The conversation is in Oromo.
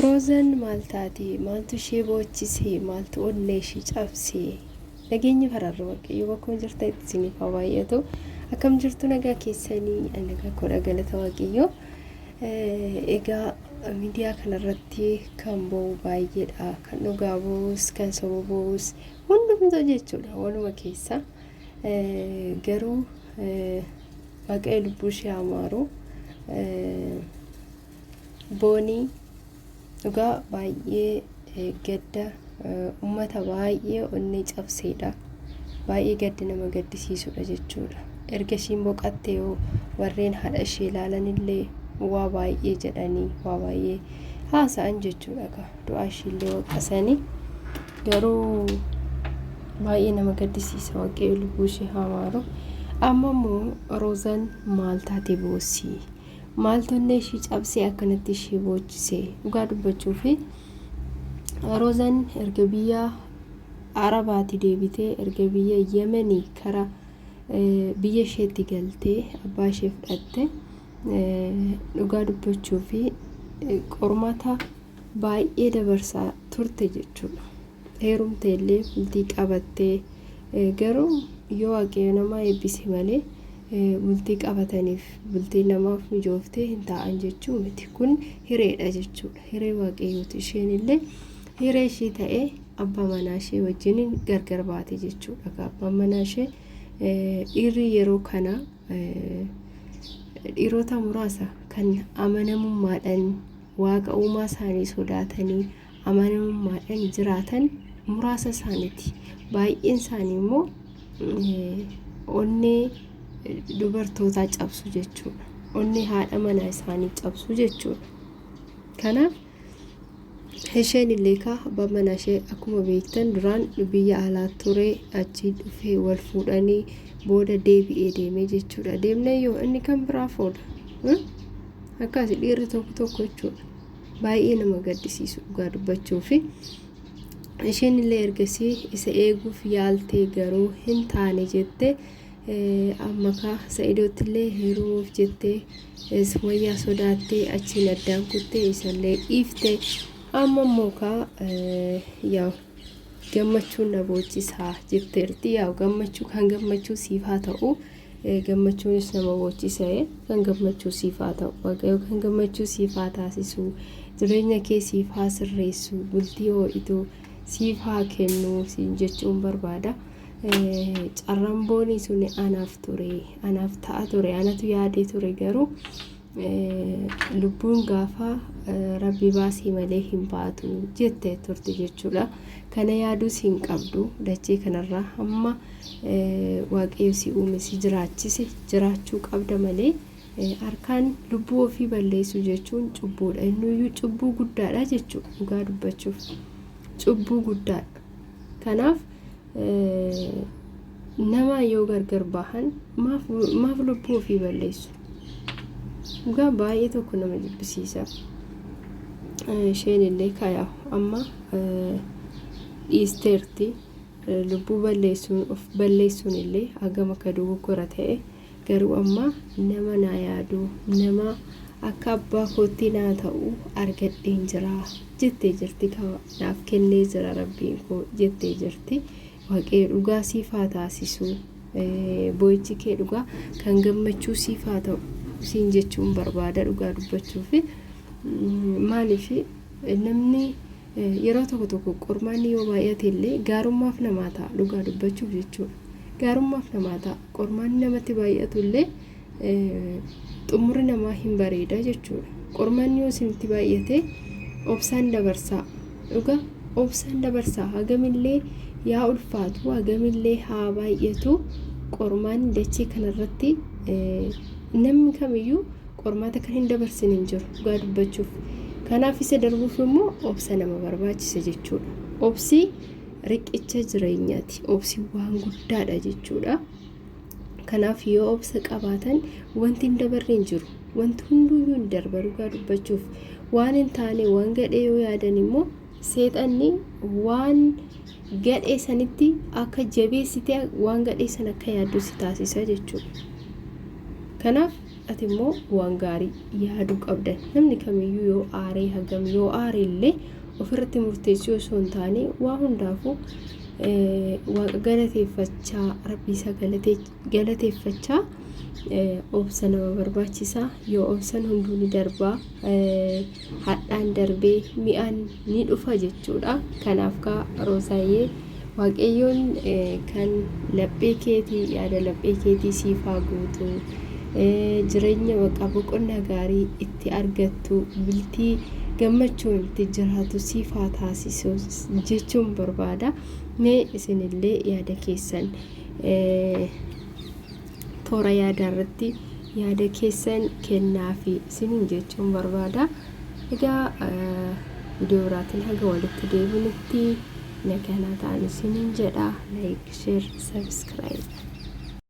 Roozan maal taate? Maaltu ishee boochise? Maaltu onnee ishee cabse? Nageenyi fararri waaqayyo bakkuma jirtanitti isiniif haa baay'atu. Akkam jirtu nagaa keessanii? Ani nagaa koodha galata waaqayyo. Egaa miidiyaa kanarratti kan ba'u baay'eedha. Kan dhugaa ba'us, kan soba ba'us hundumtuu jechuudha waluma keessa. Garuu waaqayyo lubbuu ishee haa maaru. Boonii dhugaa baay'ee gadda uummata baay'ee onnee cabseedha. Baay'ee gadda nama gaddisiisudha jechuudha. Erga ishiin boqatte yoo warreen haadha ishee ilaalanillee waa baay'ee jedhanii waa baay'ee haasa'an jechuudha ka du'aa ishiillee waqasanii garuu baay'ee nama gaddisiisa waaqayyo lubbuu ishee haa maaru. Amma immoo Roozan maal taate boossii? Maaltu onnee ishii cabsee akkanatti ishii boochise? Dhugaa dubbachuuf Roozan erga biyya Arabaati deebitee erga biyya Yemenii kara eh, biyya isheetti galtee abbaa ishee fudhatte eh, dhugaa dubbachuuf eh, qormaata baay'ee dabarsaa turte jechuudha. heerumteellee bultii qabattee garuu yoo waaqayyo nama eebbise malee bultii qabataniif bultiin namaaf mijooftee hin taa'an jechuu miti kun hireedha jechuudha hiree waaqayyooti isheen illee hiree ishii ta'ee abbaa manaa ishee wajjin gargar baate jechuudha abbaan manaa ishee dhiirri yeroo kana dhiirota muraasa kan amanamummaadhaan waaqa uumaa isaanii sodaatanii amanamummaadhaan jiraatan muraasa isaaniiti. Baay'een isaanii immoo onnee dubartootaa cabsu jechuudha. Onnee haadha manaa isaanii cabsu jechuudha. Kanaaf isheen illee kaa abbaan manaa ishee akkuma beektan duraan biyya alaa ture achii dhufee wal fuudhanii booda deebi'ee deemee jechuudha. Deemnee yoo inni kan biraa fuudha. Akkaasi dhiirri tokko tokko jechuudha. baay'ee nama gaddisiisu dhugaa dubbachuuf isheen illee ergasii isa eeguuf yaaltee garuu hin taane jette amma kaa sa'idootti illee heerumuuf jettee sumayyaa sodaattee achiin addaan kuttee isallee dhiifte amma immoo kaa yaa gammachuun na boochisaa jetteerti yaa gammachuu kan gammachuu siif haa ta'u Gammachuunis nama boochisa e. Kan gammachuu siif haa ta'u. Waaqayyo kan gammachuu siif haa taasisu. Jireenya kee siif haa sirreessu. Bultii oo'itu siif haa kennu siin jechuun barbaada. Carramboonii suni anaaf ture, anaaf ta'a ture, anatu yaadee ture garuu lubbuun gaafa rabbi baasii malee hin baatu jette turte jechuudha. Kana yaaduus hin qabdu dachee kanarraa hamma waaqayyo si uume si jiraachise jiraachuu qabda malee harkaan lubbuu ofii balleessuu jechuun cubbuudha. Innuyyuu cubbuu guddaadha jechuudha dhugaa dubbachuuf cubbuu guddaadha. kanaaf nama yoo gargar bahan maaf lubbuu ofii balleessu dhugaa baay'ee tokko nama jibbisiisa isheen illee kayaa amma dhiisteerti lubbuu balleessuun of balleessuun illee hagam akka dogoggora ta'e Garuu amma nama naa yaadu, nama akka abbaa kootti naa ta'u argadheen jira jettee jirti ka naaf kennee jira Rabbiin koo jettee jirti. Waaqayyo dhugaa siif haa taasisu. Boo'ichi kee dhugaa kan gammachuu siif haa ta'u siin jechuun barbaada dhugaa dubbachuuf. Maaliif namni Yeroo tokko tokko qormaanni yoo baay'ate illee gaarummaaf namaa ta'a dhugaa dubbachuuf jechuudha. Gaarummaaf namaa ta'a qormaanni namatti baay'atu illee xumurri namaa hin bareeda jechuudha. Qormaanni yoo isinitti baay'ate obsaan dabarsaa dhugaa obsaan dabarsaa hagamillee yaa ulfaatu hagamillee haa baay'atu qormaanni dachee kanarratti namni kamiyyuu Qormaata kan hin dabarsin hin jiru dhugaa dubbachuuf. Kanaaf isa darbuuf immoo obsa nama barbaachisa jechuudha. Obsi riqicha jireenyaati. Obsi waan guddaadha jechuudha. Kanaaf yoo obsa qabaatan wanti hin dabarre hin jiru. Wanti hunduyyuu hin darba dhugaa dubbachuuf. Waan hin taane waan gadhee yoo yaadan immoo seexanni waan gadhee sanitti akka jabeessite waan gadhee sana akka yaaddu si taasisa jechuudha. Kanaaf Ati immoo waan gaarii yaaduu qabda. Namni kamiyyuu yoo aaree hagam yoo aare illee ofirratti murteessuu osoo hin taane waa hundaafuu waaqa galateeffachaa rabbii isaa galateeffachaa obsa nama barbaachisa yoo obsan hunduu ni darbaa hadhaan darbee mi'aan ni dhufa jechuudha. Kanaaf kaa Roosaayyee waaqayyoon kan laphee keetii yaada laphee keetii siif haa guutu. Jireenya baqa boqonnaa gaarii itti argattu bultii gammachuun itti jiraatu siif haa taasisu jechuun barbaada. Mee isinillee yaada keessan Toora yaadaa irratti yaada keessan kennaafi isiniin jechuun barbaada. Egaa viidiyoo biraatiin haga walitti deebinutti nagaa naa ta'aa isiniin jedha. Like, share, subscribe.